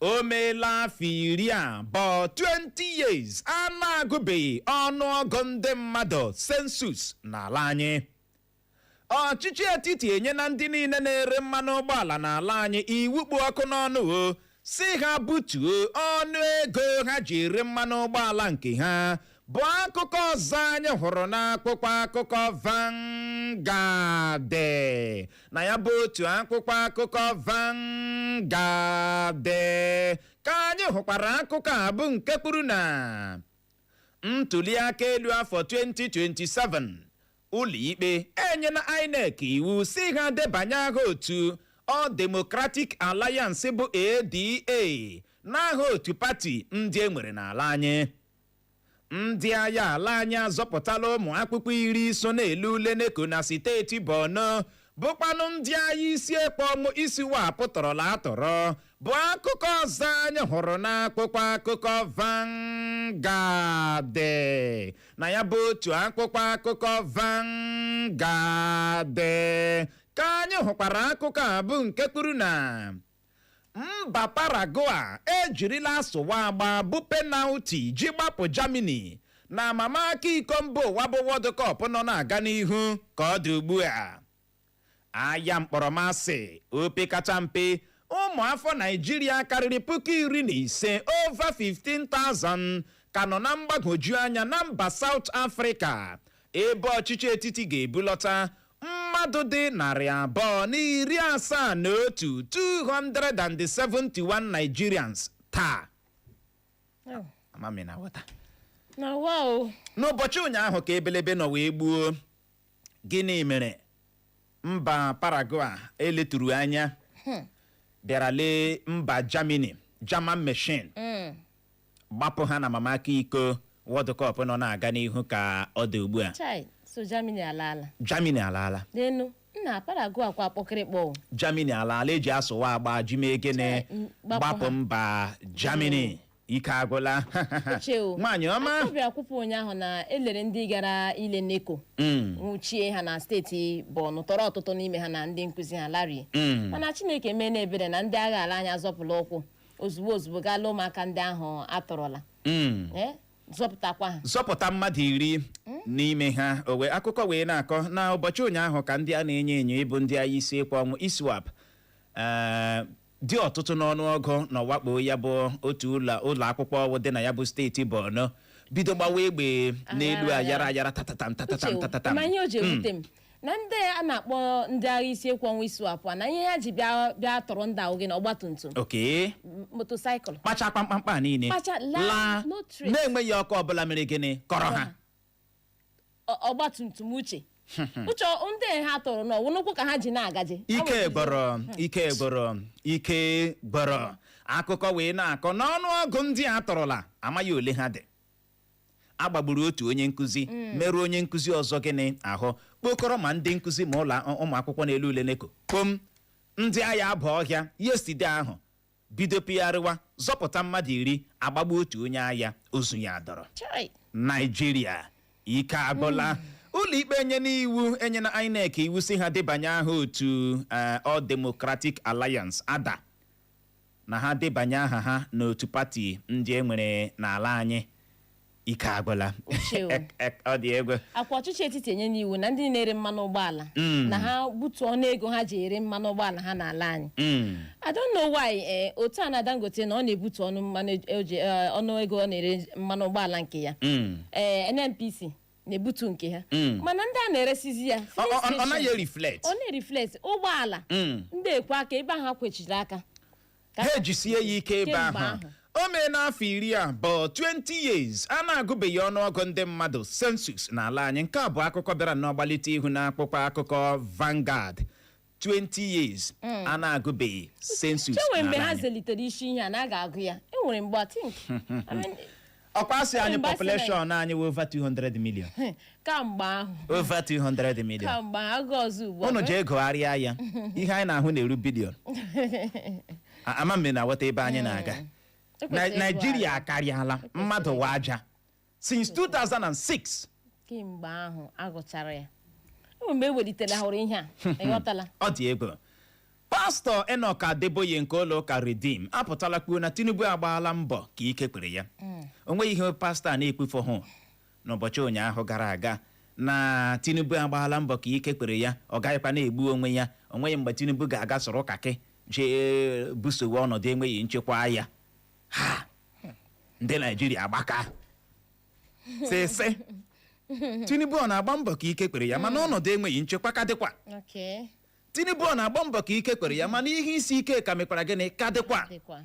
o meela afọ iri abụọ 20 years a na-agụbeghị ọnụọgụ ndị mmadụ census n'ala anyị ọchịchị etiti enyena ndị niile na-ere mmanụ ụgbọala n'ala anyị iwu kpụ ọkụ n'ọnụ ọ sị ha butuo ọnụ ego ha ji ere mmanụ ụgbọala nke ha bụ akụkọ ọzọ anyị hụrụ n'akwụkwọ akụkọ Vanguard na ya bụ otu akwụkwọ akụkọ Vanguard ka anyị hụkwara akụkọ a bụ nke kwuru na ntuliaka elu afọ 2027 ụlọikpe enyela INEC iwu sị ha debanye aha otu All Democratic Alliance bụ ADA n'aha otu pati ndị e nwere n'ala anyị ndị agha ala anyị azọpụtala ụmụ akwụkwọ iri so na-ele ule NECO na steeti Borno bụkwanụ ndị agha isi ekwe ọnwụ ISWAP tọrọla atọrọ bụ akụkọ ọzọ anyị hụrụ n'akwụkwọ akụkọ Vanguard na ya bụ otu akwụkwọ akụkọ Vanguard ka anyị hụkwara akụkọ a bụ nke kwuru na mba Paraguay ejirila asụwa agba bụ penalty ji gbapụ Germany na amamaka iko mba ụwa bụ World Cup nọ na-aga n'ihu ka ọ dị ugbu a agha mkpọrọmasị opekacha mpe ụmụ afọ Naịjirịa karịrị puku iri na ise over 15,000 ka nọ na mgbagwoju anya na mba South Africa ebe ọchịchị etiti ga-ebulọta mmadụ dị narị abụọ na iri asaa na otu 271 Nigerians taa Oh, amamihe na nghọta na wa o n'ụbọchị ụnyaahụ ka ebelebe nọ wee gbuo gịnị mere mba Paraguay e leturu anya bịara lee mba Germany German machine gbapụ ha n'amamaka iko World Cup nọ na-aga n'ihu ka ọ dị ugbu a chai so Germany alaala Germany alaala nenu nna Paraguay kwa kpọkịrịkpọ o. Germany alaala e ji asụwa agba ji mee gịnị Chai, m- gbapụ gbapụ ha. mba Germany ike agwụla Uche o. nwaanyị ọma ọ bịa ekwupụ ụnyaahụ na e lere ndị gara ile NECO Mm, nwụchie ha na steeti Borno tọrọ ọtụtụ n'ime ha na ndị nkụzi ha larie mm. mana Chineke meena ebere na ndị agha ala anyị azọpụla ụkwụ ozugbo ozugbo gaa lụọ ụmụaka ndị ahụ a tọrọla Mm. Eh, zọpụtakwa ha zọpụta mmadụ iri n'ime ha o wee akụkọ wee na-akọ na ụbọchị ụnyaahụ ka ndị a na-enyo enyo ịbụ ndị agha isi ekwe ọnwụ ISWAP eh, dị ọtụtụ n'ọnụọgụ na ọ wakpo ya bụ otu ụlọ ụlọ akwụkwọ ọwụ dị na ya bụ steeti Borno bido gbawa egbe n'elu Ayara, ayara ayara tatatam tatatam Uche, tatatam ma ihe o ji ewute m na ndị a na-akpọ ndị agha isi ekwe ọnwụ ISWAP a, na ihe ha ji bịa bịa tọrọ ndị ahụ gịnị ọgbatumtum oke motosaịkụl kpacha kpamkpamkpa niile Kpacha, laa, laa no trace. na-enweghị ọkọ ọbụla mere gịnị kọrọ ha ọ- ọgbatumtum uche uche ọ- ndị a ha tọrọ na ọ wụ n'ụkwụ ka ha ji na-agaje ike gwụrụ ike gwụrụ ike gwụrụ akụkọ wee na-akọ na ọnụọgụ ndị a tọrọla amaghị ole ha dị a gbagburu otu onye nkụzi merụọ onye nkụzi ọzọ gịnị ahụ kpokọrọ ma ndị nkụzi ma ụlọ ụmụ akwụkwọ na-ele ule NECO kpom ndị agha aba ọhịa yesterday ahụ bido pịgharịwa zọpụta mmadụ iri agbagbu otu onye agha ozu ya adọrọ Chai. Naijiria ike agwụla ụlọikpe enyena iwu enyena INEC iwu sị ha debanye aha otu eh, All Democratic Alliance ADA na ha debanye aha ha n'otu pati ndị e nwere n'ala anyị ike agwụla Ochie o. Ek- ek- ọ dị egwu ọkwa ọchịchị etiti enyena iwu na ndị na-ere mmanụ ụgbọala Mm. na ha butuo ọnụ ego ha ji ere mmanụ ụgbọala ha n'ala anyị Mm. I don't know why eh, otu a na Dangote na ọ na-ebutu ọnụ mmanụ e- eji- eh, ọnụ ego ọ na-ere mmanụ ụgbọala nke ya Mm. ee NNPC na-ebutu nke ha Mm. mana ndị a na-eresizi ya Ọ- filling ọ- ọ- ọ station, naghị reflect ọ na-ereflect ụgbọala Mm. ndị ekwe aka ebe ahụ ha kwechiri aka Ka- ha ejisie ya ike ebe Kemgbe ahụ ahụ. o meena afọ iri abụọ 20 years a na-agụbeghị ọnụọgụ ndị mmadụ census n'ala anyị nke a bụ akụkọ bịara n'ọgbalite ihu n'akwụkwọ akụkọ Vanguard 20 years a na-agụbeghị census e nwe mgbe n'ala ha anyị welitere isi ihe a na a ga-agụ ya e nwere mgbe I think I mean, ọ kwa a sị anyị Mba, sị na- population anyị wụ over 200 million kamgbe ahụ over 200 million kamgbe ahụ agụ ọzọ ugbu a unu jee gụgharịa ya ihe anyị na-ahụ na-eru billion A- ama m na aghọta ebe anyị na-aga Ekwesịrị Na- ịgụ Naijiria ala. akarịala mmadụ wa aja since 2006 kemgbe ahụ a gụchara ya e nwe mgbe e welitere hụrụ ihe a ị ghọtala ọ dị egwu Pastọ Enoch Adeboye nke ụlọụka Redeem apụtala kwuo na Tinubu agbaala mbọ ka ike kwere ya mm. o nweghị ihe pastọ a na-ekwufohụ n'ụbọchị ụnyaahụ gara aga na Tinubu agbaala mbọ ka ike kwere ya ọ gaghịkwa na-egbu onwe ya o nweghị mgbe Tinubu ga-aga soro kaki jee busowe ọnọdụ enweghị nchekwa agha ndị Naijiria agbaka isi sị Tinubu ọ na-agba mbọ ka ike kwere ya mana mm. ọnọdụ enweghị nchekwa ka dịkwa Tinubu ọ na-agba mbọ ka ike kwere ya mana ihe isi ike ka mekwara gịnị ka dịkwa dịkwa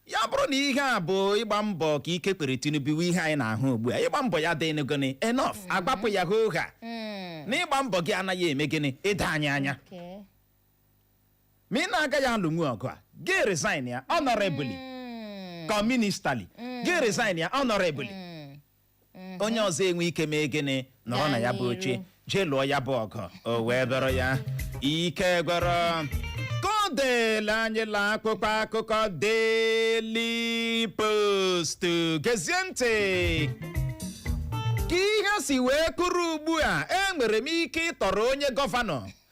ya bụrụ na ihe a bụ ịgba mbọ ka ike kwere Tinubu wụ ihe anyị na-ahụ ugbu a ịgba mbọ ya adịghị enough a gwapụ ya hoo ha Mm, na ịgba mbọ gị anaghị eme gịnị ịda anyị anya okay. ma ị na-agaghị alụnwu ọgụ a gị resign ya honorably Mm, ka ministali gị resign ya honorably onye ọzọ enwe ike mee gịnị nọrọ na ya bụ oche jee lụọ ya bụ ọgụ o wee dọrọ ya ike gwụrụ ka ọ dịla anyị la akpụkpọ akụkọ Daily Post gezie ntị ka ihe si wee kwụrụ ugbu a enwere m ike ịtọrọ onye gọvanọ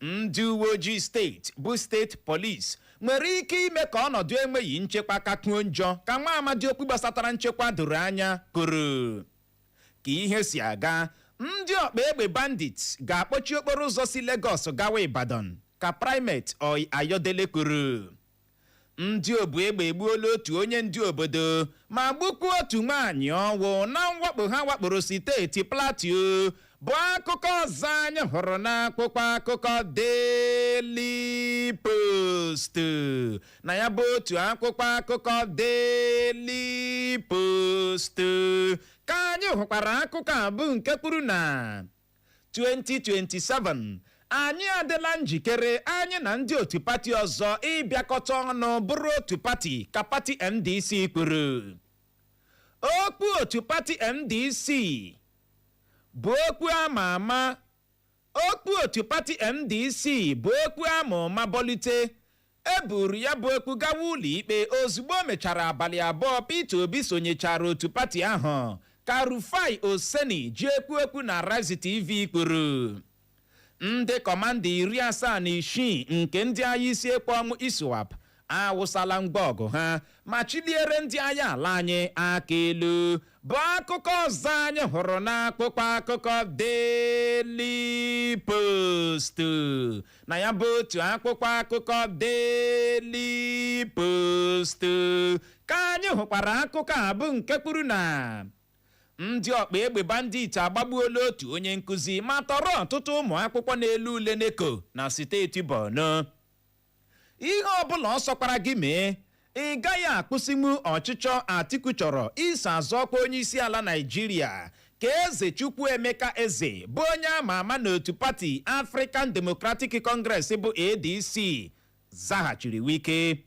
ndị uwe ojii steeti bụ steeti polis nwere ike ime ka ọnọdụ enweghị nchekwa kakwuo njọ ka nwa amadi okwu gbasatara nchekwa doro anya kwuru ka ihe si aga ndị ọkpa egbe bandits ga-akpọchi okporo ụzọ si Lagos gawa Ibadan ka Primate Ayodele kwuru ndị obu egbe egbuola otu onye ndu obodo ma gbukwa otu nwaanyị ọnwụ na mwakpo ha wakporo steeti Plateau bụ akụkọ ọzọ anyị hụrụ n'akwụkwọ akụkọ Daily Post na ya bụ otu akwụkwọ akụkọ Daily Post ka anyị hụkwara akụkọ a bụ nke kwuru na 2027 anyị adịla njikere anyị na ndị otu pati ọzọ ịbịakọta ọnụ bụrụ otu pati ka pati ndc kwuru okwu otu pati ndc bụ okwu ama ama okwu otu pati ndc bụ okwu a ma ụma bọlite E buru ya bụ okwu gawa ụlọikpe ozugbo o mechara abalị abụọ Peter Obi sonyechara otu pati ahụ, ka Rufai Oseni ji ekwu okwu na Arise TV kwuru. Ndị kọmanda iri asaa na isii nke ndị agha isi ekwe ọnwụ ISWAP awụsala ngwa ọgụ ha ma chiliere ndị agha ala anyị aka elu bụ akụkọ ọzọ anyị hụrụ n'akpụkpọ akụkọ Daily Post na ya bụ otu akpụkpọ akụkọ Daily Post ka anyị hụkwara akụkọ a bụ nke kwuru na ndị ọkpa egbe bandit agbagbuola otu onye nkụzi ma tọrọ ọtụtụ ụmụ akwụkwọ na-ele ule NECO na steeti Borno ihe ọbụla ọ sọkwara gị mee Ị gaghị akwụsịnwu ọchịchọ Atiku chọrọ iso azọ ọkwa onyeisiala Naịjirịa ka Eze Chukwuemeka Eze bụ onye a ma ama n'otu pati African Democratic Congress bụ ADC zaghachiri Wike.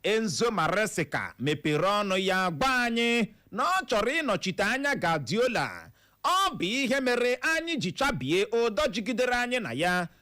Enzo Maresca mepere ọnụ ya gwa anyị na ọ chọrọ ịnọchite anya Guardiola. Ọ bụ ihe mere anyị ji chabie ụdọ jigidere anyị na ya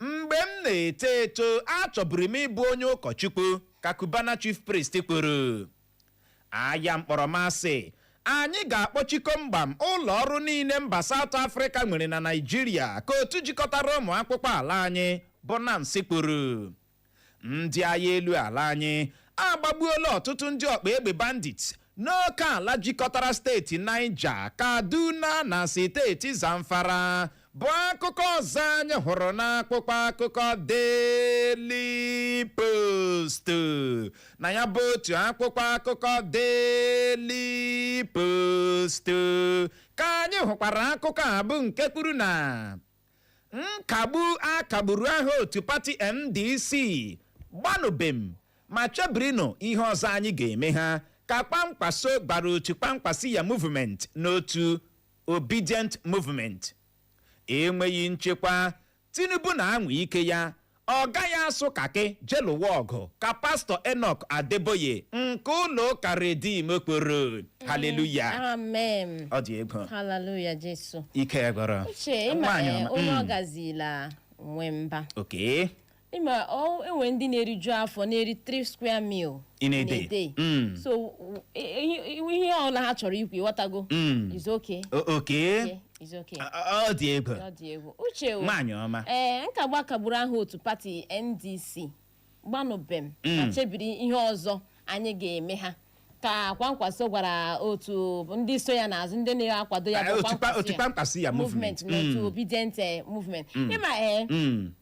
Mgbe m na-eto eto, achọburu m ịbụ onye ụkọchukwu, ka Cubana Chief Priest kwuru. Aya mkpọrọmasị, anyị ga-akpọchi komgbam ụlọ ọrụ niile mba Saụt Afrịka nwere na Naịjirịa, ka otu jikọtara ụmụ akwụkwọ ala anyị bụ NANS kwuru. ndị aya elu ala anyị agbagbuola ọtụtụ ndị ọkpa egbe bandit n'oke ala jikọtara steeti Niger, Kaduna na steeti Zamfara bụ akụkọ ọzọ anyị hụrụ n'akwụkwọ akụkọ Daily Post na ya bụ otu akwụkwọ akụkọ Daily Post ka anyị hụkwara akụkọ a bụ nke kwuru na nkagbu a kagburu aha otu pati ndc gbanụbem ma chebirinụ ihe ọzọ anyị ga-eme ha ka Kwankwaso gwara otu Kwankwasiyya movement na otu Obidient movement enweghị nchekwa tinubu na-anwa ike ya ọ gaghị asụ kaki je lụwa ọgụ ka pastọ Enoch Adeboye nke ụlọ ụka Redeem kwuru haleluya amen ọ dị egwu haleluya jesu ike gwụrụ uche ịma Nwaanyị eh, ọma. onye Mm. ọ gazila nwe mba okay ịma ọ- enwe ndị na-eriju afọ na-eri 3 square meal In a day. Mm. so w- i- i- ihe ọbụla ha chọrọ ikwu ịghọtago Mm. is okay o- okay It's okay. Ọ- ọ ọ dị egwu Ọ dị egwu. Uche o. nwaanyị ọma ee nkagbu a kagburu aha otu pati ndc gbanụbem ma chebiri ihe ọzọ anyị ga-eme ha ka kwankwaso gwara otu ndị so ya n'azụ ndị na-akwado ya bụ Otu kwa- otu Kwankwasiyya movement na otu Obidient eh, movement ịma ee Mm.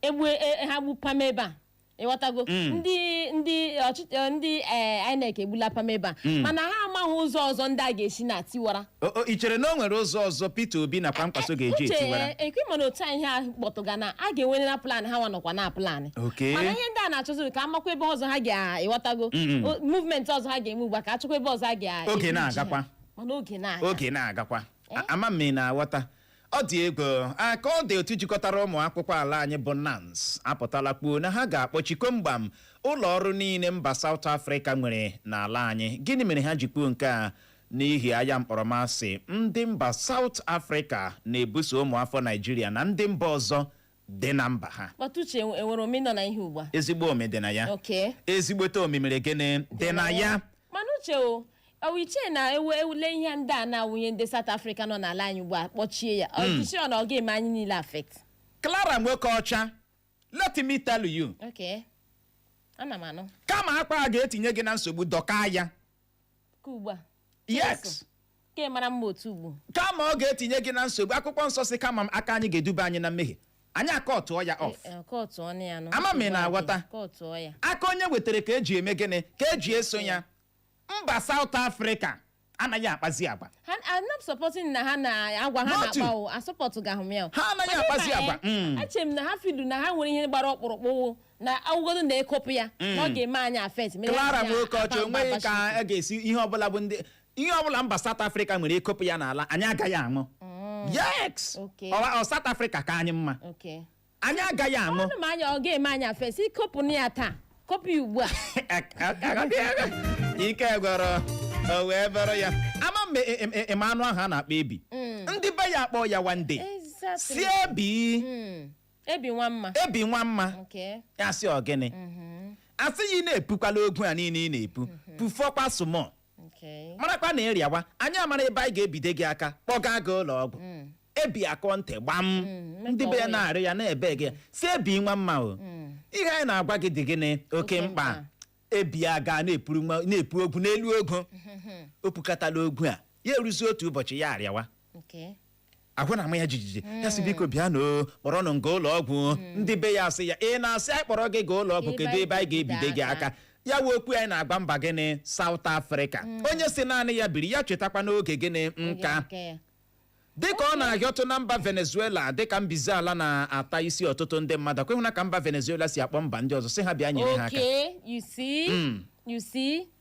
egbu e- e- ha gbu pam ebe a ịghọtago ndị ndị ọchịchị eh, ndị eh, INEC egbula pam ebe a mana ha amaghị ụzọ ọzọ ndị a ga-esi na tiwara O- o, i chere na o nwere ụzọ ọzọ Peter Obi na Kwankwaso ga-eji uche etiwara ekwe mana otu a ihe ahụ kpọtụga na a ga-enwere na plan ha nwa nọkwa na plan Okay. mana ihe ndị a na-achọziri ka a makwa ebe ọzọ ha ga-ịghọtago O- movement ọzọ ha ga-eme ugbu a ka a chọkwa ebe ọzọ ha ga Oge na-agakwa. mana oge na-aga oge na-agakwa A- ama m na-aghọta ọ dị egwu ka ọ dị otu jikọtara ụmụ akwụkwọ ala anyị bụ nans apụtala kwuo na ha ga-akpọchi komgbam ụlọ ọrụ niile mba South Africa nwere n'ala anyị gịnị mere ha ji kwuo nke a n'ihi aya mkpọrọmasị ndị mba South Africa na-ebuso ụmụafọ Naịjirịa na ndị mba ọzọ dị na mba ha kpata uche enwe- enwere omi nọ na ihe ugbu a ezigbo omi dị na ya okay ezigbote omi mere gịnị dị na ya mana uche o ọ wụ i che na ewu ewule ihe ndị a na-awụ ihe ndị South Africa nọ n'ala anyị ugbu a kpọchie ya i cheghị na ọ ga-eme anyị niile affect Clara Nwokeocha let me tell you okay ana m anụ kama akpa a ga-etinye gị na nsogbu dọkaa ya ka ugbu a yes ka ị mara mma otu ugbo kama ọ ga-etinye gị na nsogbu akwụkwọ nsọ sị kama m aka anyị ga-eduba anyị na mmehie anyị akọtụọ ya off Eh, kọtụ ọnụ ya nụ Ama m ị na-aghọta. kọtụ ọ ya aka onye wetara ka eji eme gịnị ka eji eso ya mba South Africa anaghị akpazi agwa ha I'm not supporting na ha na agwa ha Not you. na-akpa o asupportụghị m ya o. Ha anaghị Mana akpazi ịma, agwa. eh, Mm. eche m na ha feelụ na ha nwere ihe gbara ọkpụrụkpụ na awụgodo na ekopụ ya na ọ ga-eme anyị affect mere Clara anyị Nwokeocha mba onweghị ka Washington. a ga-esi ihe ọbụla bụ ndị ihe ọbụla mba South Africa nwere ekopụ ya n'ala anyị agaghị anwụ yes Okay. Ọ- ọ South Africa ka anyị mma Okay. anyị agaghị anwụ ọnụ ma anyị ọ ga-eme anyị affect ikopụ na ya taa kopụ ya ugbu a ike gwọrọ o wee bụrụ ya ama m e- e- e- eme anụ ahụ a na-akpọ ebi ndị be ya akpọ ya one day Exactly. sị ebi Mm. ebi nwa mma ebi nwa mma nke ya sị ọ gịnị asị ya ị na-epukwala ogwu a niile ị na-epu pufọkwa some o nke marakwa na ị rịawa anyị amara ebe anyị ga-ebide gị aka kpọga gị ụlọ ọgwụ ebi akọ ntị gbam Mm, ndị be ya metọọ ya. na-arịọ ya na-ebe gị sị ebi nwa mma o ihe anyị na-agwa gị dị gịnị oke Oke mkpa mkpa. ebi aga na-epuru nwa- na-epu ogwu n'elu ogwu o pukatala ogwu a ya eruzi otu ụbọchị ya arịawa nke ahụ na-ama ya jijiji ya sị biko bịanụ kpọrọnụ m gaa ụlọ ọgwụ ndị be ya asị ya ị na-asị anyị kpọrọ gị gaa ụlọ ọgwụ Ebe kedu anyị ebe anyị ga-ebide ga-ebide gị aka aka. ya wụ okwu anyị na-agwa mba gịnị South Africa onye sị naanị ya biri ya chetakwa n'oge gịnị nka Nke ya. dịka ọ na-ahịọtụ na mba Venezuela dịka mbize ala na-ata isi ọtụtụ ndị mmadụ ọkwa ị hụla ka mba Venezuela si akpọ mba ndị ọzọ sị ha bịa nyere ha aka Okay, you see, you see,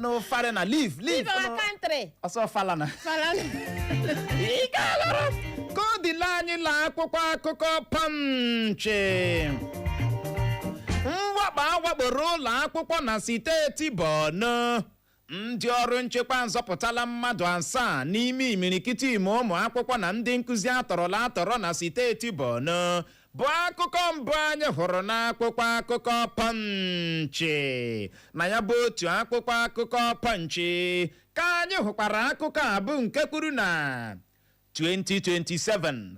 no foreigner leave leave Leave our no. country. ọsọ fala na Fala. ike alụrụ ka ọ dịla anyị la akwụkwọ akụkọ Punch mwakpo awakporo ụlọ akwụkwọ na steeti Borno ndị ọrụ nchekwa azọpụtala mmadụ asaa n'ime imirikiti ime ụmụ akwụkwọ na ndị nkụzi atọrọla atọrọ na steeti Borno bụ akụkọ mbụ anyị hụrụ n'akwụkwọ akụkọ Punch na ya bụ otu akwụkwọ akụkọ Punch ka anyị hụkwara akụkọ a bụ nke kwuru na 2027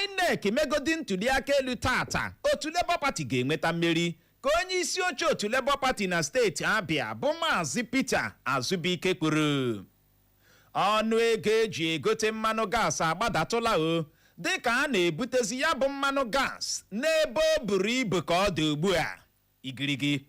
INEC megodi ntụliaka elu taata otu Labour Party ga-enweta mmeri ka onye isi oche otu Labour Party na steeti Abia bụ Maazị Peter Azubuike kwuru ọnụ ego eji egote mmanụ gas agbadatụla o dịka a na-ebutezi ya bụ mmanụ gas n'ebe o buru ibu ka ọ dị ugbu a igirigi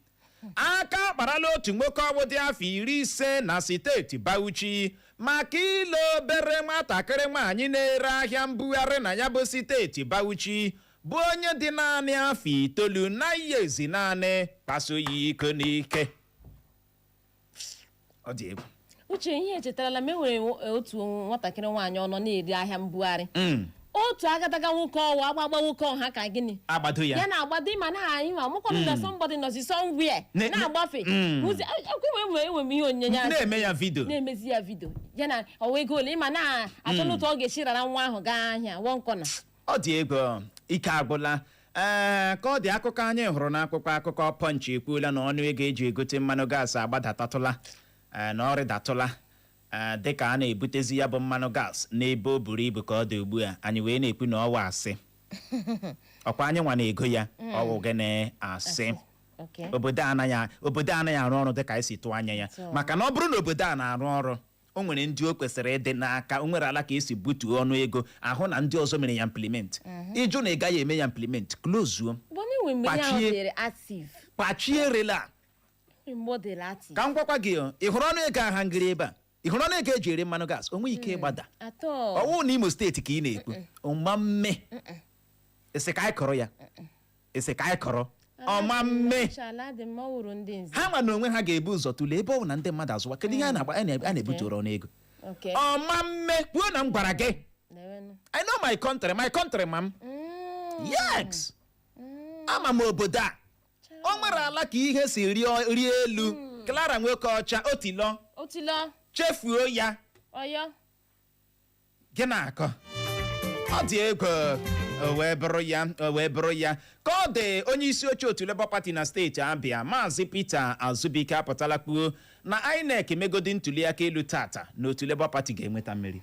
aka akparala otu nwoke ọ wụ dị afọ iri ise na steeti Bauchi maka ile obere nwatakịrị nwaanyị na-ere ahịa mbugharị na ya bụ steeti Bauchi bụ onye dị naanị afọ itoolu na ihe ezi naanị kpaso ya iko n'ike ọ dị egwu uche ihe echetarala m e nwere otu nwatakịrị nwaanyị ọ nọ na-ere ahịa mbugharị Mm, otu agadaga nwoke ọ wụ agbagba nwoke ọ ha ka gịnị agbado ya ya na-agbado ịma na anyị ma mụkwanụ na somebody nọzi somewhere Ne- ne- na-agbafe Mm. Ụzi- ekwe m enwe enwe m ihe onyinye asị. na-eme ya vidio na-emezi ya vidio ya na ọ wụ ego ole man na-achọ n'otu ọ ga-esi rara nwa ahụ gaa ahịa one corner ọ dị egwu ike agwụla ee ka ọ dị akụkọ anyị hụrụ n'akwụkwọ akụkọ Punch ekwuola na ọnụ ego eji egote mmanụ gas agbadatatụla ee na ọ rịdatụla ee dịka a na-ebutezi ya bụ mmanụ gas n'ebe o buru ibu ka ọ dị ugbu a anyị wee na-ekwu na ọ wụ asị ọ kwa anyịnwa na-ego ya ọ wụghị na a sị Okay. obodo anaghị obodo anaghị arụ ọrụ dịka anyị si tụọ anya ya maka na ọ bụrụ na obodo a na-arụ ọrụ o nwere ndị o kwesịrị ịdị n'aka o nwere ala ka e si butuo ọnụ ego ahụ na ndị ọzọ mere ya implement ị jụ na ị gaghị eme ya implement klozuo bụ na enwe mgbe ihe ahụ Kpachie. dịrị active kpachie rela mgbe ọ dịrị active ka m gwakwa gị o, ị hụrụ ọnụ ego aha ngịrị ebe a ị hụrụ ọnụ ego eji ere mmanụ gas o nweghị ike ịgbada ọ wụ na Imo steeti ka ị na-ekwu ọma mme ị sị ka anyị kọrọ ya ị sị ka anyị kọrọ ọma mme dị mma ọ wụrụ ndị nze ha ma n'onwe ha ga-ebu ụzọ tụlee ebe ọ bụ na ndị mmadụ azụwa kedu ihe a na-agba a na- a na-ebutụrụ ọnụ ego Okay. ọma mme kwuo na m gwara gị I know my country my country ma m Mm. yes Mm. ama m obodo a o nwere ala ka ihe si rịọ- rie elu clara nwoke ọcha otilọ otilọ chefuo ya ọyọ gị na-akọ ọ dị egwu o wee bụrụ ya o wee bụrụ ya ka ọ dị onye isi oche otu Labour Party na steeti Abia maazị Peter Azubike apụtala kwuo na INEC megodi ntuliaka elu tata na otu Labour Party ga-enweta mmeri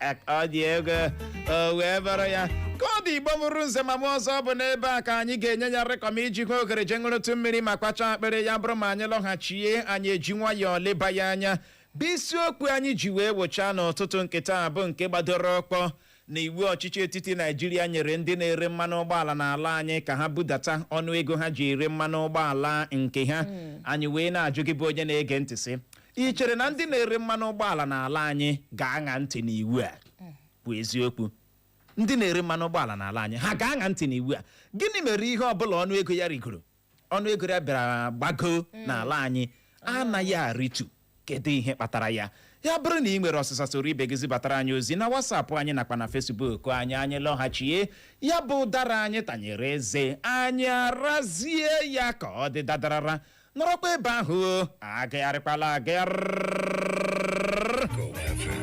ọ dị egwu o wee bụrụ ya ka ọ dị Igbo mụrụ nze ma mụọ ọzọ bụ n'ebe a ka anyị ga-enye ya rịkọm iji hụ oghere je ṅụrụtụ mmiri ma kwachaa akpịrị ya bụrụ ma anyị lọghachie anyị eji nwayọọ leba ya anya bụ isiokwu anyị ji wee wụchaa n'ụtụtụ nke taa bụ nke gbadoro ụkwụ na iwu ọchịchị etiti Naijiria nyere ndị na-ere mmanụ ụgbọala n'ala anyị ka ha budata ọnụ ego ha ji ere mmanụ ụgbọala nke ha anyị wee na-ajụ gị bụ onye na-ege ntị sị ị chere na ndị na-ere mmanụ ụgbọala n'ala anyị ga-aṅa ntị n'iwu a bụ eziokwu ndị na-ere mmanụ ụgbọala n'ala anyị ha ga-aṅa ntị n'iwu a gịnị mere ihe ọbụla ọnụ ego ya rigoro ọnụ ego ya bịara gbago n'ala anyị anaghị arịtu kedu ihe kpatara ya ya bụrụ na ị nwere ọsịsa soro ibe gị zibatara anyị ozi na WhatsApp anyị nakwa na Facebook anyị anyị lọghachie ya bụ ụdara anyị tanyere eze anyị arazie ya ka ọ dị dadarara nọrọkwa ebe ahụ o agagharịkwala agagharị Go FM.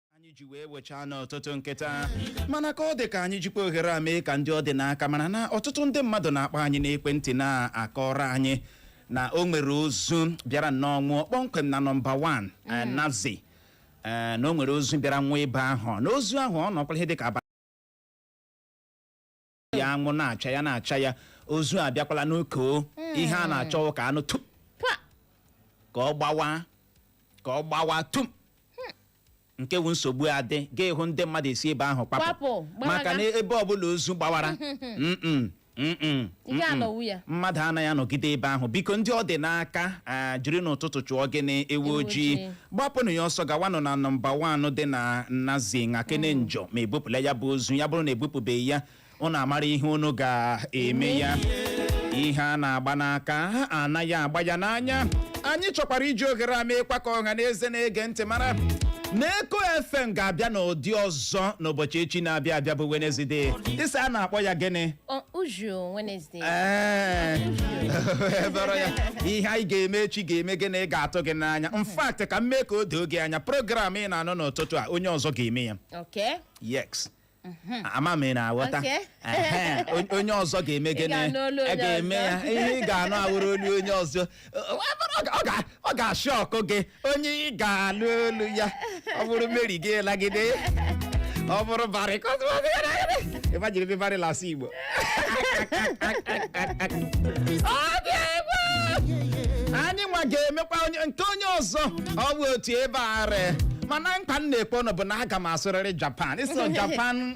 anyị ji wee wechaa n'ọtụtụ nkịta mana ka ọ dị ka anyị jikwa ohere a mee ka ndị ọ dị n'aka mara na ọtụtụ ndị mmadụ na-akpọ anyị n'ekwentị na-akọrọ anyị na o nwere ozu bịara nnọọ nwụọ kpọmkwem na nọmba 1 eh, Naze eh, na o nwere ozu bịara nwụọ ebe ahụ na ozu ahụ ọ nọkwala ihe dịka abalị ya anwụ na-acha ya na-acha ya ozu abịakwala na-eko ihe a na-achọ ka a nụ tum Pa! ka ọ gbawa ka ọ gbawa tum nke wu nsogbu adị ga ịhụ ndị mmadụ esi ebe ahụ Kwapụ, kpapụ gbalaga. maka na ebe ọbụla ozu gbawara mm-mm, mm-mm, Ị ga-anọwu mm-mm. ya. mmadụ anaghị anọgide ebe ahụ biko ndị ọ dị n'aka ah, jiri n'ụtụtụ chụọ gịnị ewu Ewu ojii ojii. gbapụnụ ya ọsọ gawanụ na nọmba 1 dị na Naze gakene nyoo ma ebupụla ya bụ ozu ya bụrụ na ebupụbeghị ya ụnụ amara ihe ụnụ ga-eme ya ihe a na-agba n'aka anaghị agba ya n'anya anyị chọkwara iji ohere a meekwa ka ọha na eze na-ege ntị mara na eko fm ga-abịa n'ụdị ọzọ n'ụbọchị echi na-abịa abịa bụ Wednesday ị sị a na-akpọ ya gịnị Ọ- Uju Wednesday Ee, ebere ya ihe anyị ga-eme echi ga-eme gịnị ga-atụ gị n'anya in fact ka m mee ka o doo gị anya program ị na-anụ n'ụtụtụ a onye ọzọ ga-eme ya Okay. yes ama m ị na-aghọta Okay. Ehe, on- onye ọzọ ga-eme gịnị Ị ga-anụ olu onye ga-eme ya ọzọ. ihe ị ga-anụ awụrụ olu onye ọzọ Ọ- ọ- ọ ga- ọ ga-ashock gị onye ị ga-alụ olu ya ọ bụrụ Mary gị lagide ọ bụrụ Barry ka ọ tụwa gị lagide. Imagine Barry la-asụ igbo Ọ dị egwu! anyị nwa ga-emekwa nke onye ọzọ ọ bụ otu ebe a ree mana nkwa m na-ekwe ụnụ bụ na aga m asụrịrị japan ịsụ japan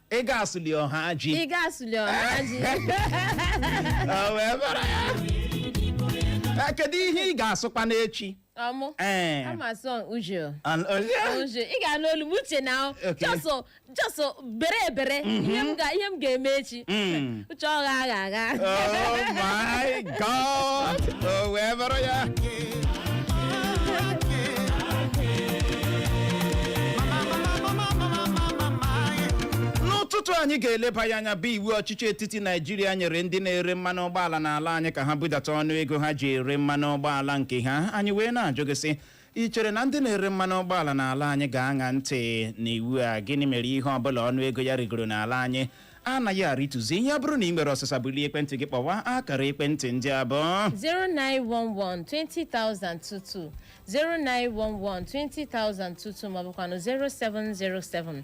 ị ga-asụli ọha ji ị ga-asụli ọha ji O wee bara ya. Eh, kedu ihe ị ga-asụkwa n'echi ọmụ Eh, ama sọ uju and- oh, yeah. uju ị ga-anụ olu m uche na Okay. jọsọ jọsọ bere ebere ihe m ga- ihe m ga-eme echi Mm. chọọ gha agha agha Oh my God! O wee bụrụ ya. n'ụtụtụ anyị ga-eleba ya anya bụ iwu ọchịchị etiti naijiria nyere ndị na-ere mmanụ ụgbọala n'ala anyị ka ha budata ọnụ ego ha ji ere mmanụ ụgbọala nke ha anyị wee na-ajụ gị sị I chere na ndị na-ere mmanụ ụgbọala n'ala anyị ga-aṅa ntị n'iwu a? Gịnị mere ihe ọ bụla ọnụ ego ya rịgoro n'ala anyị anaghị arịtụzi? Ya bụrụ na i nwere ọsịsa bulie ekwentị gị kpọwa akara ekwentị ndị a bụ 0911 2022 0911 2022 maọbụkwanụ 0707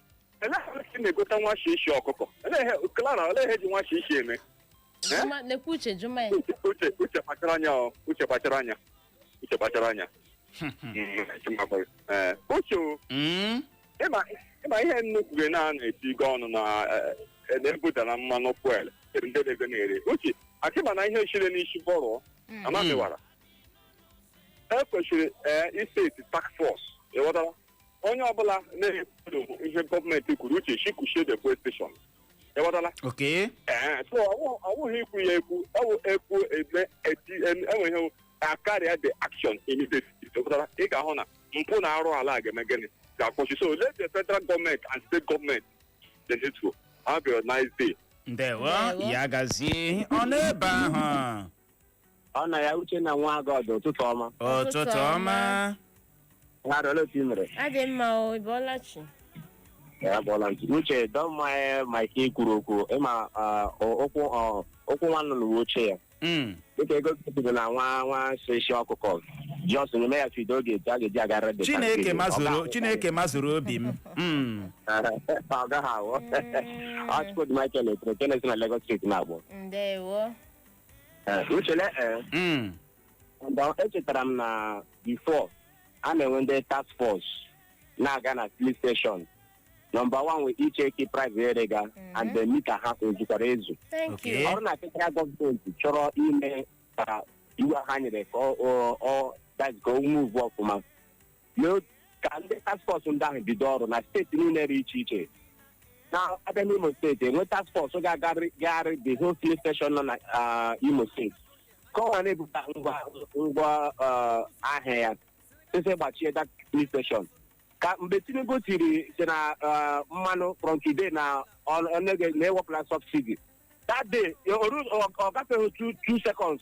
eleghị si na-egote nwa shishi ọkụkọ eleghị klara eleghị ji nwa shishi eme Juma- nekwe uche juma ya uche uche uche kpachara anya ọ uche kpachara anya uche kpachara anya Mm, chima kpọrọ. Eh, uche o, Mm. ịma ịma ihe nnukwu gị na-eti gị ọnụ na eh, eh, na-ebudara mmanụ fuel ndị na-ego na-ere uche akịma na ihe chire n'isi bọrọ amamiwara e kwesịrị eh, iseti task force ị ghọtara onye ọbụla na-ekwudo ihe gọọmenti kwuru uche shikushie the fuel station ịghọtala ok ee so ọwụ- ọwụghị ikwu ya ekwu ọwụ ekwu eme eti em- enweghị akarịa the action immediately ịghọtala ị ga-ahụ na mpụ na arụ ala a ga-eme gịnị ga-akwụsị so let the federal government and state government the needful have a nice day ndewo Ndewo. ya gazie ọ n'ebe ahụ ọ na ya uche na nwa God ụtụtụ ọma ụtụtụ ọma nwa arịọla otu i mere adị mma o ị bọọla chi ya bụọla ntị uche ọ dị mma e mike i kwuru okwu ịma ah, o- ụkwụ ọ, ụkwụ nwa nnụnụ bụ oche ya Mm, dịka Igbo kwuru na nwa nwa shishi ọkụkọ ji ọsụ nyeme ya feed o oge etu a ga-eji agara dị chineke mazuru chineke mazuru obi m Mm, ọ gaghị awụ o chukwudi michael etere kenes na lagos street na-agbụ ndewo Eh, uche le eh, Mm. and, uh, echetara m na before a na-enwe ndị task force na-aga na filling station nọmba wan wee icheki price e rega and the mita ha ezukwara ezu Thank Okay. you. ọrụ na federal gọọmenti chọrọ ime ka iwu ha nyere ka ọ- ọ- ọ that ka o move ọfụma na otu ka ndị task force ndị ahụ bido ọrụ na steeti niile dị iche iche na a bịa n'imo steeti e nwee task force ga-agagharị the whole filling station nọ na ah, imo steeti ka ọ ghara na-ebupụta ngwa ngwa ah, ahịa ya sese gbachie that filling station ka mgbe tinubu tiri sị na ah, mmanụ from today na ọ- ọ na e wepụla subsidy that day o- o- ọ gafeghị two two seconds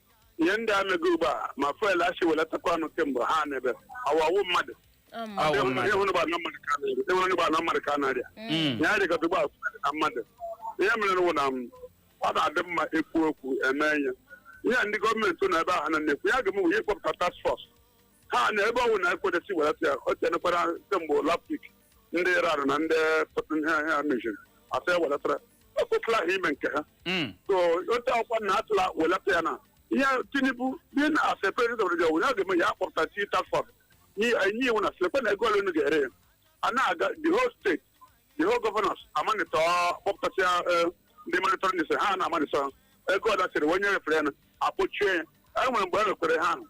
ihe ndị a mego ugbu a ma fuel a sị welatakwa ọnụ kemgbe ha n'ebe awawu mmadụ Ọmụ. Awụ Ndị mmadụ. hụrụ gbana mmadụ ka na-eri ndị hụrụ ugbu a na mmadụ ka na-arịa Mm. ya dịkọta ugbu a fuel na mmadụ ihe mere wụ na m, ọ na-adị mma ekwu okwu eme ihe ihe a ndị gọọmenti na ebe ahụ na na-ekwu ya ga-eme wụ ya ịkpọpụta task force ha na ebe ọ wụ na-ekwedesi welata ya o tenekwara kemgbe last week ndị iran na ndị ihe ihe ha meziri a sị ya welatara o kwesịrị ahụ ime nke ha Mm. so otu akwụkwọ na atụla welata ya na ihe tinubu dị na as a president of the onye ga-eme ya akpọpụta task force nye iwu na sị lekwe na ego ole unu ga-ere ya a na-aga the whole state the whole governors amanịtọ kpọpụtasịa eh, ndị monitoring sị ha na-amanịtọ ha. ego ole a sịrị onye refere ya na akpọchie ya e nwere mgbe e rekwere ha ahụ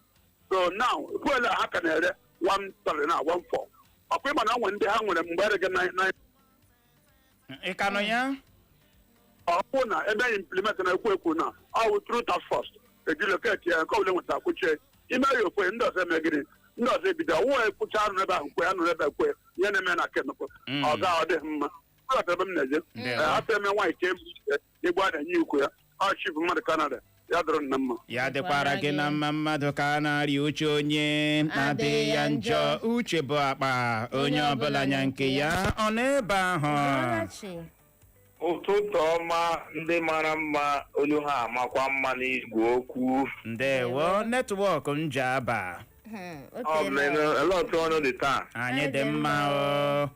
so now fuel a ha ka na-ere one three na one four ọkwa ịma na nwere ndị ha nwere mgbe erege na na ị ka nọ ya ọ bụ na ebe anyị implement na ekwu ekwu na ọ bụ through task force e ji locate ya nke ọbụla nweta kwuchie ime ya okwe ndị ọzọ eme gịnị ndị ọzọ ebido ọwụwa ekwucha anụ ebe ahụ kwe anụ ebe kwe ihe na-eme na kenụkụ Mm. ọ ga ọ dịghị mma Ị ghọtara ebe m na-eje Ndewo. Eh, afọ eme nwaanyị ka ebu ike egbu adanye ikwu ya ọ chief mmadụ kanada ya dịrị m na mma ya dịkwara gị na mma mmadụ ka a na-arịa uche onye adịghị ya njọ uche bụ akpa onye ọbụla nya nke ya onye nọ ebe ahụ Ọlachi. ụtụtụ ọma ndị mara mma olu ha amakwa mma n'igwe okwu ndewo netwọk njaba Hmm, o ọ teela. mere ele otu unu dị taa anyị dị mma o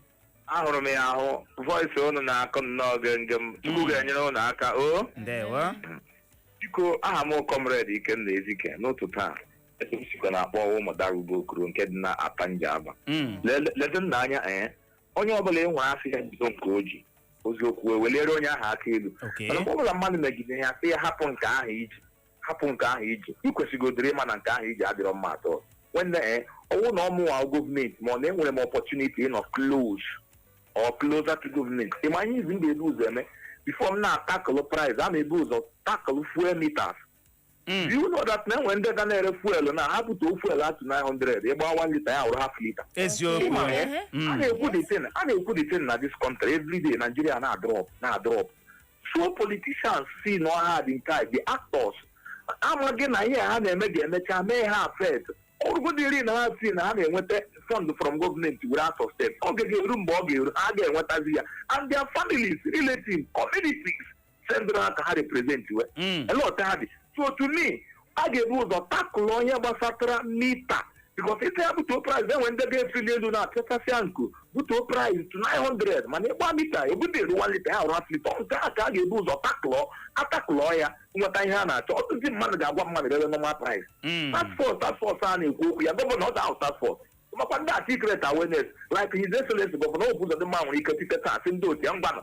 ahụrụ m ya ahụ voice unu na-akụ nnọọ gengem chukwu Mm. ga-enyere unu aka o ndewo biko aha m comrade ikenna ezike n'ụtụtụ a ebe m sikwa na-akpọ wụ ụmụ darubo okoro nke dị na atta njaba Mm, lede nna anya ee onye ọbụla ị nwere a sị ya jide nke o ji eziokwu eweliere onye ahụ aka elu okay. mana mgbe ọbụla mmadụ megide ya sị ya hapụ nke ahụ i ji hapụ nke ahụ i ji ị kwesịgodịrị ịma na nke ahụ i ji adịrọ mma at all nwanne eh, ọ bụrụ na ọ mụwa gọọmenti ma ọ na enwere m opportunity ịnọ close or closer to gọọmenti ị ma ihe izi m ga-ebu ụzọ eme before m na-atakụlụ price a na-ebu ụzọ takụlụ fuel meters Mm. Do you know that na enwe ndị ga na-ere fuel na ha bute fuel at 900 ị gbaa 1 lita ya wụrụ half lita eziokwu Ịma na ya, a na-ekwu the thing a na-ekwu the thing na this country every day Nigeria na-adrọp na-adrọp so politicians si na ọha dị nke a dị actors amaghị na ihe ha na-eme ga-emecha mee ha affect ọ bụrụgodiri na ha si na ha na-enweta fund from gọọmenti were out of state oge ga-eru mgbe ọ ga-eru ha ga-enwetazi ya and their families relatives communities sendịrị ha ka ha represent wee elect ha dị so to me a ga-ebu ụzọ tackle ihe gbasatara mita because ịta ya butuo price enwe ndị ga-efeli elu na-apịachasịa nku butuo price to 900 mana ị gbaa mita ebute eru 1 lita ya ụrụ half lita nke a ka a ga-ebu ụzọ ta- tackle ya nweta ihe a na-achọ ọtụtụ mmadụ ga-agba mmanụ rere normal price Mm. task force task force a na-ekwu okwu ya gọvanọ order task force makwa ndị a create awareness like his excellency gọvanọ Hope Ụzọdịmma nwere ike tete taa sị ndị otu ya ngwanụ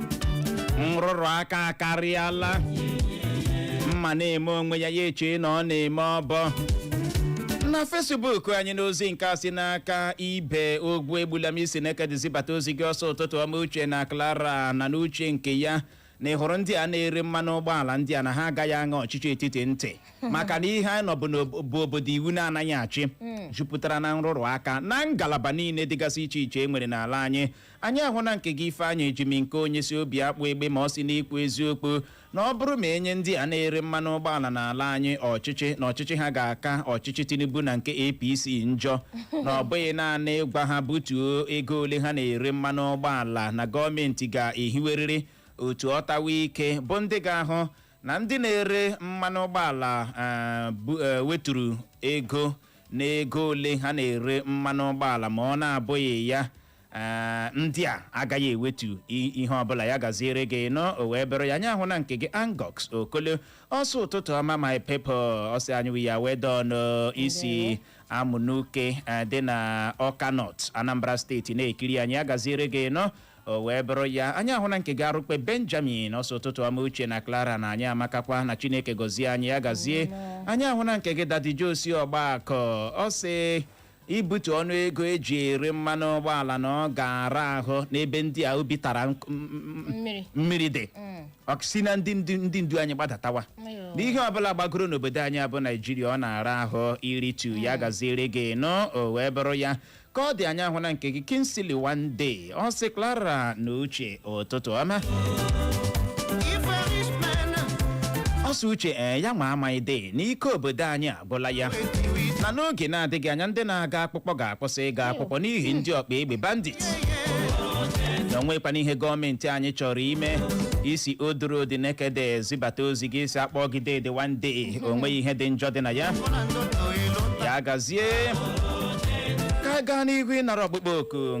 nrụrụ aka akarịala mma na-eme onwe ya ya eche na ọ na-eme ọbọ na fesbuk anyị n'ozi nke a si n'aka ibe Ogwuegbulam i si Nekede zibata ozi gị ọ sị ụtụtụ ọma uche na clara na n'uche nke ya na ị hụrụ ndị a na-ere mmanụ ụgbọala ndị a na ha agaghị aṅa ọchịchị etiti ntị maka na ihe anyị nọ bụ n'ob- bụ obodo iwu na-anaghị achị jupụtara na nrụrụ aka na ngalaba niile dịgasị iche iche e nwere n'ala anyị anyị ahụna nke gị Ifeanyị Ejimnkeonye si Obiakpụ Egbema ọ sị n'ikwu eziokwu na ọ bụrụ ma e nye ndị a na-ere mmanụ ụgbọala n'ala anyị ọchịchị na ọchịchị ha ga-aka ọchịchị Tinubu na nke APC njọ na ọ bụghị naanị ịgwa ha butuo ego ole ha na-ere mmanụ ụgbọala na gọọmenti ga-ehiwerịrị otu ọtawa ike bụ ndị ga-ahụ na ndị na-ere mmanụ ụgbọala eh, bu- eh, weturu ego n'ego ole ha na-ere mmanụ ụgbọala ma ọ na-abụghị ya ee ndị a agaghị ewetu i- ihe ọbụla ya gaziere gị nnọọ o wee bụrụ ya anyị ahụna nke gị angox okolo ọ sị ụtụtụ ọma my people ọ sị anyị well done i si Amanuke eh, dị na ọka nọt anambra steeti na-ekiri anyị ya gaziere gị nnọọ o wee bụrụ ya anyị ahụna nke gị arụkpe benjamin ọ sị ụtụtụ ọma uche na clara na anyị amakakwa na chineke gọzie anyị ya gazie anyị ahụna nke gị Daddy Josi ọgba akọ ọ sị ibutu ọnụ ego eji ere mmanụ ụgbọala na ọ ga-ara ahụ n'ebe ndị a obi tara nk- m- m- mmiri mmiri dị ọ sị na ndị ndu- ndị ndu anyị gbadatawa n'ihe ọbụla gbagoro n'obodo anyị a bụ naijiria ọ na-ara ahụ iritu ya gaziere gị nnọọ o wee bụrụ ya ka ọ dị anyị ahụna nke gị Kingsley One Day ọ sị Clara na Uche ụtụtụ ọma ọ sị Uche ee ya nwa amaghịdị n'ike obodo anyị agwụla ya na n'oge na-adịghị anya ndị na-aga akwụkwọ ga-akwụsị ịga akwụkwọ n'ihi ndị ọgba egbe bandit na onwekwana ihe gọọmenti anyị chọrọ ime i si odoro dị nekede zibata ozi gị ị sị a kpọọ gị dede one day onweghị ihe dị njọ dị na ya ya gazie ka gaa n'ihu ịnara ọkpụkpọ oku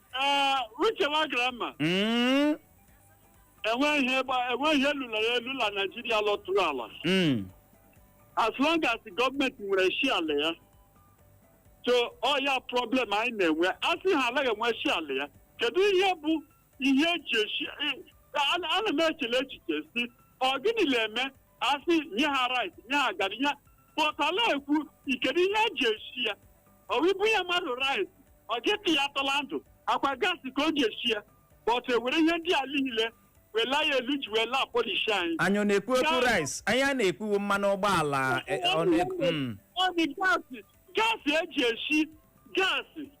Ee, uche na clara Mm, enweghị ihe gba- enweghị ihe lalara elu na naijiria lọtụrụ ala mm, as long as gọọmenti nwere share la ya so ọ ya problem anyị na-enwe a sị ha anaghị enwe share la ya kedu ihe bụ ihe eji eshi a- ana m echele echiche sị ọ gịnị na-eme asị nye ha rice nye ha gari but a la-ekwu kedu ihe eji eshi ya ọ wụ i bunye mmadụ rice ọ ga-ata ya ata la ndụ akwa gas ka o ji eshi ya but ewere ihe ndị a niile wela ya elu ji wee la-apunish anyị anyị ọ na-ekwu okwu Gas. rice anyị a na-ekwu mmanụ ụgbọala eh, ọ na-ekwu mm. ọ dị gas gas eji eshi gas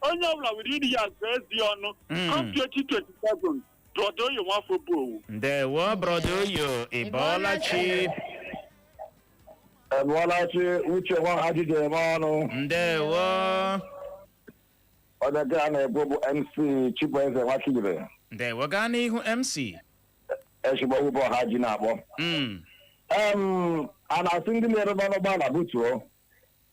onye ọbụla were ire ya gụọ eze ọnụ Mm. come 2027 brother oyo nwafọ obowo ndewo brother oyo ị bọọla chi Ị bọọla chi uche nwa ha ji eji eme ọnụ ndewo onye gị a na-ekwu bụ MC Chibueze Nwakibere ndewo gaa n'ihu mc ezigbo ụbọ ohaji na-akpọ Mm, em a na-asị ndị na-ere mmanụ ụgbọala butuo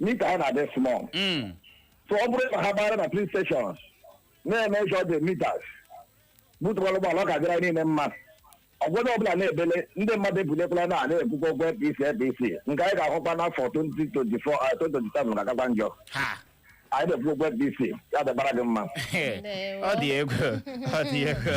meter ha na-adị small Mm. so ọ bụrụ na ha gbara na filling stations na-emeasure the meters butukwala ụgbọala ọ ga-adịra niile mma ọgwụgwọ ọbụla na-ebele ndị mmadụ ebulekwala na a na-ekwukwa okwu apc apc nke anyị ga-ahụkwa n'afọ 2024 ah, 2027 ga-akakwa njọ ha anyị na-ekwu okwu apc ya dịbara gị mma ọ dị egwu ọ dị egwu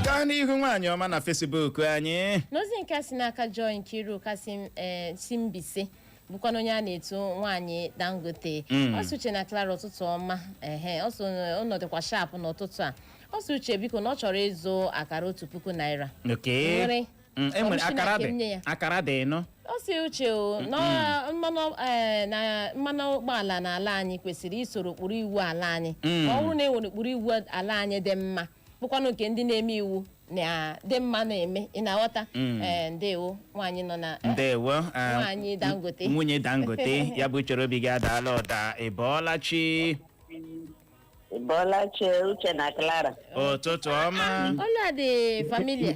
gaa n'ihu nwaanyị ọma na facebook anyị n'ozi nke a si n'aka joy nkiru kasị eh, si mbaise bụkwana onye a na-etu nwaanyị dangote Mm. ọ sị uche na clara ụtụtụ ọma ehe ọ sị na unu dịkwa sharp n'ụtụtụ a ọ sị uche biko na ọ chọrọ ịzụ akara otu puku naira ok e nwere Mm, e nwere Kọmishọna akara dị Ka m nye ya. akara dị nụ ọ sị uche o na ọ- mmanụ eh, na mmanụ ụgbọala n'ala anyị kwesịrị isoro ụkpụrụ iwu ala anyị Mm. ọ bụrụ na e nwere ụkpụrụ iwu ala anyị dị mma bụkwanụ nke ndị na-eme iwu dị mma na-eme ị na-aghọta Mm. Eh, ndewo nwaanyị nọ na eh, ndewo ah, Nwaanyị Dangote. n- nwunye dangote ya bụ chere obi gị adaala ụda ị bọọla chi Ị bọọla chi uche na Clara. ụtụtụ ọma olu a dị familiar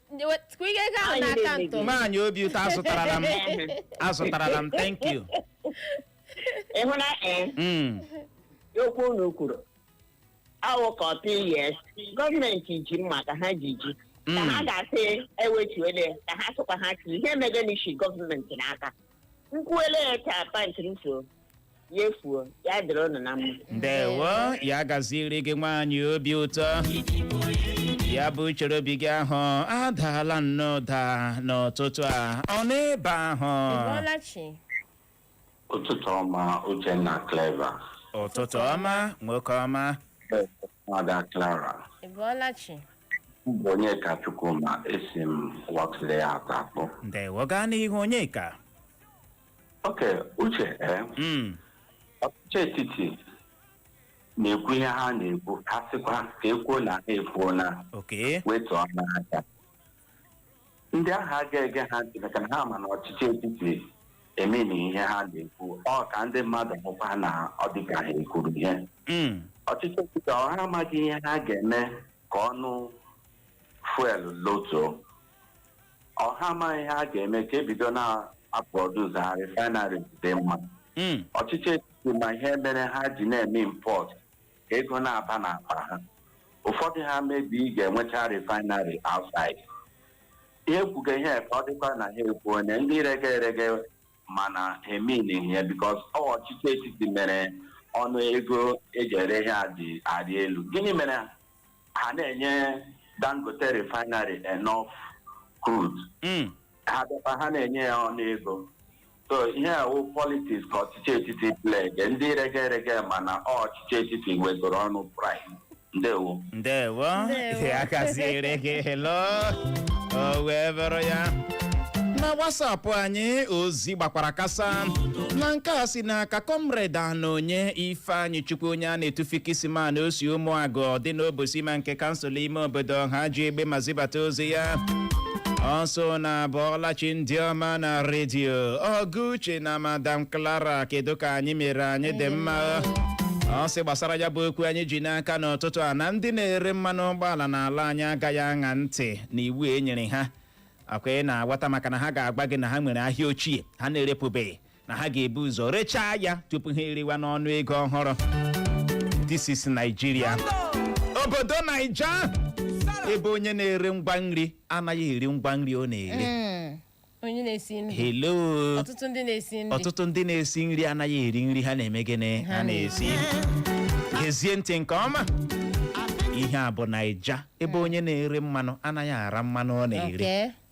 Kụ ihe ego ahụ Anyị n'aka na-eme ntọ. gị. nwaanyị obi ụtọ azụtarala m azụtarala m thank you ịhụ na ee Mm. okwu unu kwuru awụ ka ọ tụ yes gọọmenti ji mma ka ha ji ji ka ha Mm. ga-asị ewetuele ka ha sịkwa ha tiri ihe mega n'ishi gọọmenti n'aka nkwuele ya ka pant m so ya efuo ya dịrị ụnụ na mma ndewo ya gaziere gị nwaanyị obi ụtọ ya bụ uche obi gị ahụ adaala nnọọ ụda n'ụtụtụ a ọ n'ebe ahụ Ị bọọla chi. ụtụtụ ọma uchenna clever ụtụtụ ọma nwoke ọma nwaada clara Ị bọọla chi. Onyeka Chukwuma esi m wakile ya atọ akpọ. ndewo gaa n'ihu Onyeka Okay uche ee Mm, ọchịchị etiti na-ekwu ihe ha na-ekwu ha sịkwa ka e kwuo na ha ekwuo na oke wetuo n'aka ndị ahụ aga ege ha ntị maka na ha ma na ọchịchị etiti emeni ihe ha na-ekwu ọ ka ndị mmadụ hụkwa na ọ dịka ha ekwuru ihe Mm. ọchịchị etiti ọ ha amaghị ihe ha ga-eme ka ọnụ fuel lotuo ọ ha amaghị ihe ha ga-eme ka e bido na-aproduce ha refineries dị mma Mm. ọchịchị etiti ma ihe mere ha ji na-eme import ka ego na-aba n'akpa ha ụfọdụ ha maybe ga-enwecha refinery outside ha ekwuga ihe ka ọ dịkwa na ha ekwu onye ndị rege erege mana ha emeghị ihe because ọ ọchịchị etiti mere ọnụ ego e ji ere ihe a ji arị elu gịnị mere ha na-enye dangote refinery enough crude Mm. ha bịakwa ha na-enye ya ọnụ ego so ihe a wụ politics ka ọchịchị etiti playge ndị rege erege mana ọ ọchịchị etiti wegoro ọnụ price ndewo ndewo Ndewo. ya gaziere gị helo o wee bụrụ ya na WhatsApp anyị ozi gbakwara kasa na nke a si n'aka Comrade Anonye Ifeanyịchukwu onye a na-etu fikisiman o si ụmụagụ dị n'Obosima nke kansụl ime obodo Ohaji Egbema zibata ozi ya ọ sị ụnụ abọọla chi ndị ọma na redio ọga uche na madam clara kedu ka anyị mere anyị dị mma ọ sị gbasara ya bụ okwu anyị ji n'aka n'ụtụtụ a na ndị na-ere mmanụ ụgbọala n'ala anyị agaghị aṅa ntị na iwu e nyere ha ọ kwa ị na-aghọta maka na ha ga-agwa gị na ha nwere ahịa ochie ha na-erepụbeghị na ha ga-ebu ụzọ rechaa ya tupu ha erewa n'ọnụ ego ọhụrụ this is Nigeria obodo Naija ebe onye na-ere ngwa nri anaghị eri ngwa nri ọ na-ere onye na-esi nri hello ọtụtụ ndị na-esi nri anaghị eri nri ha na-eme gịnị ha na-esi gezie ntị nke ọma ihe a bụ Naija ebe onye na-ere mmanụ anaghị ara mmanụ ọ na-ere Okay.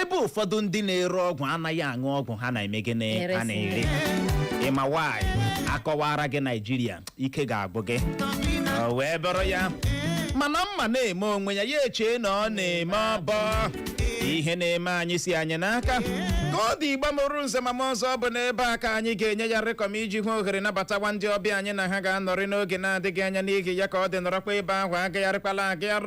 ebe ụfọdụ ndị na-ere ọgwụ anaghị aṅụ ọgwụ ha na-eme gịnị ha na-ere ị ma why a kọwaara gị naijiria ike ga-agwụ gị o wee bụrụ ya mana mma na-eme onwe ya ya echee na ọ na-eme ọbọ ihe na-eme anyị si anyị n'aka ka ọ dị Igbo mụrụ nze ma mụọ ọzọ ọ bụ n'ebe a ka anyị ga-enye ya rịkọm iji hụ ohere nabatawa ndị ọbịa anyị na ha ga-anọrị n'oge na-adịghị anya n'ihi ya ka ọ dị nọrọkwa ebe ahụ agagharịkwala agagharị